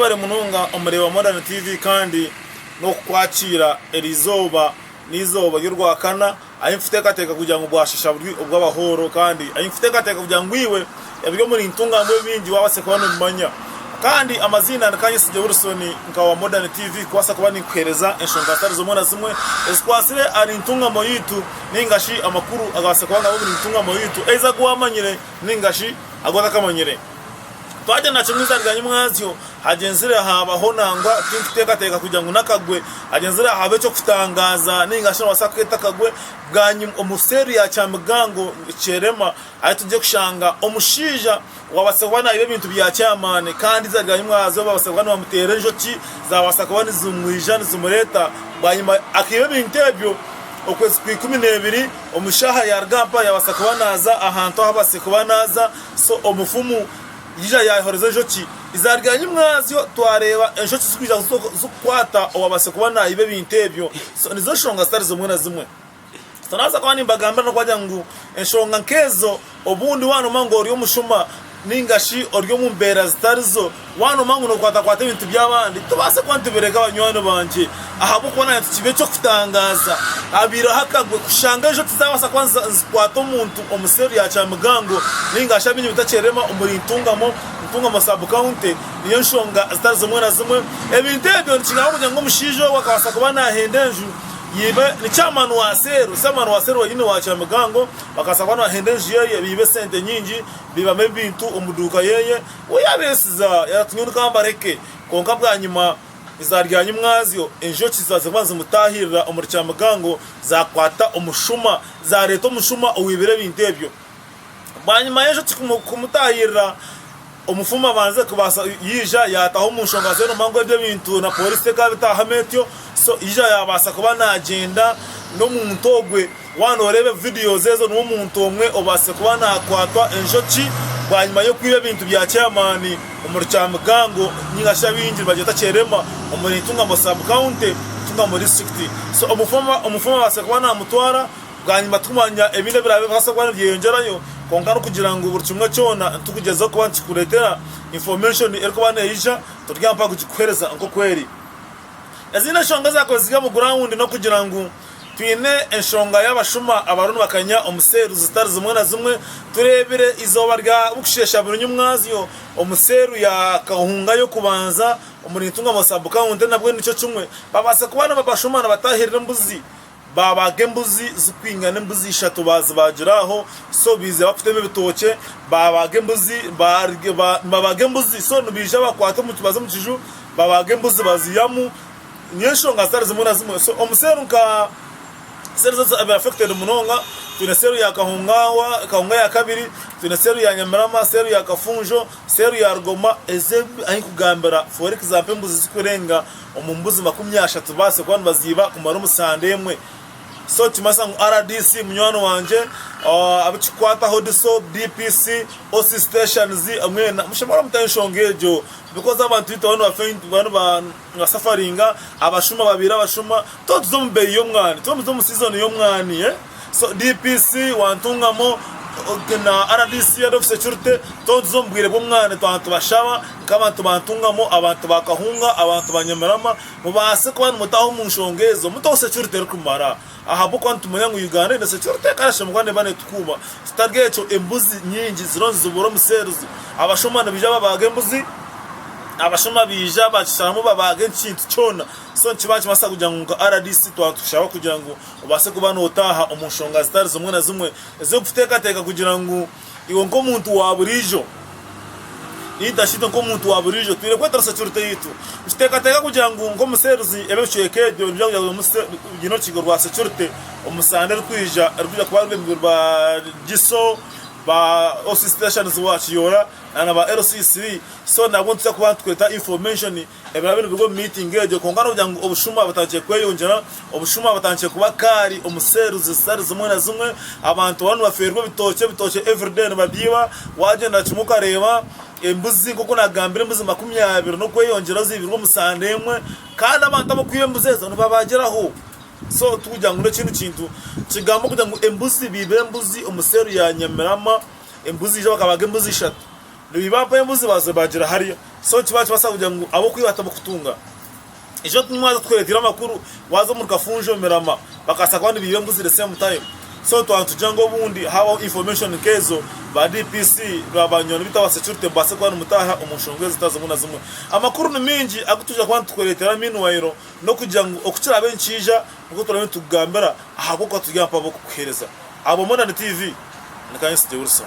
Mwebare munonga omureeba Modern TV kandi n'okukwakiira eri izooba n'eizooba ry'orwakana ahi nfuteekateeka kugira ngu bwashasha buri obw'abahooro kandi ahi nfuteekateeka kugira ngu iwe ebiri omuri ntunga ngu ebingi waabaase kuba nobimanya. Kandi amaziina ni Kanyesigye Wilson nka owa Modern TV kubaasa kuba ninkuheereza enshonga zitari zimwe na zimwe ezikwatsire ahari ntungamo yaitu nainga shi amakuru agabaase kuba nari omuri ntungamo yaitu ei agu waamanyire nainga shi agu otakamanyire. Twagenda na Kimuza rya Nyimwazyo, hagyenzire haabaho nangwa tinkuteekateeka kugira ngu n'akagwe, hagyenzire haabaho eky'okutangaaza nainga shi noobaasa kukeeta akagwe, bwanyima omu seeri ya Kyamigango Kyerema ahi turi kushanga omushaija owaabaasa kuba naiba ebintu bya kyamaani kandi eiziina rya Nyimwazyo baabaasa kuba nibamuteera enjoki zaabaasa kuba nizimwija nizimureeta bwanyima akaiba ebintu ebyo okwezi kwa ikumi neebiri omu shaaha yaaruga aha mpaha yaabaasa kuba naaza ahantu ahu abaase kuba naaza So omufumu yaija yaayehoreza enjoki ezaarya nyimwazyo. Twareeba enjoki zikwija zikukwata owaabaase kuba naiba ebintu ebyo. So nizo nshonga zitari zimwe na zimwe. So naabaasa kuba nimbagambira n'okubaagira ngu enshonga nk'ezo obundi waanooma ngu ori omushuma nainga shi ori omu mbeera zitarizo, Waanooma ngu nookwatakwata ebintu by'abandi, tobaase kuba nitubireka banywani bangye ahabw'okuba naanye tikiba eky'okutangaaza. Habaireho akagwe kushanga enjoki zaabaasa kuba nizikwata omuntu omu seeri ya kyamigango nainga shi abiine ebitakyerema omuri Ntungamo, Ntungamo Sub County, niyo nshonga zitari zimwe na zimwe. Ebintu ebyo nikingamba kugira ngu omushaija ogwo akabaasa kuba naahenda enju yaibe ni Chairman wa Seero, Chairman wa Seero wenyine wa kyamigango, bakabaasa kuba nibahenda enju ye baibe esente nyingi, baibamu ebintu omu duuka ye. Ou yaabeetsiza yaatunga onu ka mbareke, kwonka bwanyima eiziba rya nyimwazyo enjoki zaaziba nizimutaahirira omuri kyamigango zaakwata omushuma, zaareeta omushuma owaibire ebintu ebyo. Bwanyima y'enjoki kumutaahirira, omufumu abanze kubaasa yaija yaataho omu nshonga zeena omu mangu ebyo ebintu na pooriisi ekaba etaahamu etyo, so yaija yaabaasa kuba naagyenda n'omuntu ogwe. Waaba nooreeba vidiyozi ezo niwe muntu omwe obaasize kuba naakwatwa enjoki bwanyima y'okwiba ebintu bya chairmaani omuri Kyamigango nainga shi abaingi nibagyeta Kyerema omuri Ntungamo sub county, Ntungamo district. So omufumu abaasize kuba naamutwara bwanyima tikumanya ebindi ebiraabe bikabaasa kuba nibyeyongyerayo kwonka n'okugira ngu buri kimwe kyona nitugugyezaho kuba nitukureetera information erikuba neija turi aha mpaha kugikuheereza nk'oku eri. Ezindi enshonga ezaakozirwe omu guraawundi n'okugira ngu twine enshonga y'abashuma abariho nibakanya omu seeru zitari zimwe na zimwe. Tureebire eizooba rya burikusheesha burinywa omwazyo omu seeru ya Kahunga y'okubanza omuri Ntungamo sub-county nabwo nikyo kimwe. Babaase kuba nibabashuma nibatahirira embuzi Baabaaga embuzi zikwingana embuzi ishatu baazibaagira aho so baija bakutema ebitookye baabaaga embuzi nibabaaga embuzi so nibaija bakwata omuti baza omu kiju babaaga embuzi baziyamu niyo nshonga zitari zimwe na zimwe so omu seero nka seero ezi ezi biri affected munonga twine seero ya Kahungaahwa Kahunga ya kabiri twine seero ya Nyamirama seero ya Kafunjo seero ya Rugoma ezi ahi nkugambira for example embuzi zikurenga Omu mbuzi makumi ashatu zibaase kuba nibaziiba kumara omu sande emwe. So kimanyisa ngu rdc munywani wangye, abu kikukwataho DISO, DPC, OC stations mwena mushemare mute enshonga egyo because abantu baitu baba nibafa baba nibasafariinga, abashuma babaire abashuma, twaba nituza omu beeyi y'omwani, twaba nituza omu season y'omwani. DPC wa Ntungamo na rdc Head of Security tontuza omu bwire bw'omwaani twaba nitubashaba nk'abantu ba Ntungamo, abantu ba Kahunga, abantu ba Nyamirama mubaase kuba nimutaho omu nshonga ezo muteho security erikumara ahabw'okuba nitumanya ngu Uganda eine security ekarashemurwa neeba neetukuuma kitari ekyo embuzi nyingi ziriyo nizibura omu cells abashuma nibaija babaaga embuzi, abashuma baija baakisharamu babaaga ekintu kyona so nikiba nikibaasa kugira ngu nka rdc twaba nitukushaba kugira ngu Obaase kuba nootaaha omu nshonga zitari zimwe na zimwe ez'okuteekateeka kugira ngu iwe nk'omuntu wa buriijo, nintashi itwe nk'omuntu wa buriijo twine kwetoresa Kiruteitwe. Nikiteekateeka kugira ngu nk'omu seerizi ebe ebicweka ebyo nibiija kugira buri munsi biine orukiiko rwa securite omu sande erikwija erikwija kuba ruri ba GISO, ba OC stations wa Kiyoora na ba LCC so nabo nituza kuba nitweeta information. Ebiraabe nibiruga omu miitingi egyo. Kwonka noogira ngu obushuma butandikire kweyongyera. Obushuma butandikire kuba kaari omu seeri zitari zimwe na zimwe. Abantu bariho nibafeerwa ebitookye, ebitookye everyday nibabyiba. Waagyenda kimwe okareeba embuzi, nk'oku naagambire, embuzi makumi abiri n'okweyongyeraho ziibirwe omu sande emwe. Kandi abantu ab'okwiba embuzi ezo nibabaagiraho. So tikugira ngu n'ekindi kintu. Nikigamba kugira ngu embuzi, biiba embuzi omu seeri ya Nyamirama, embuzi eija bakabaaga embuzi ishatu. Nibiba mpaho embuzi bazibagira harya so ki bakibaasa kugira ngu ab'okwiba hatamu kutunga? Eki otu nimwaza kutureteire amakuru waza omuri Kafunjo, Mirama bakaasa kuba nibiiba embuzi the same time so twaba nitugira ngu obundi habaho information nk'ezo ba DPC na banywani beitu aba security mubaase kuba nimutaaha omu nshonga ezi zitaari zimwe na zimwe. Amakuru ni maingi agu twija kuba nitukureteera meanwhile n'okugira ngu oku kiraabe nikiija nikwo turaabe nitukugambira ahabw'okuba turi aha mpaho ab'okukuheereza. Aha bwa Modern TV, ni Kainsize Wilson.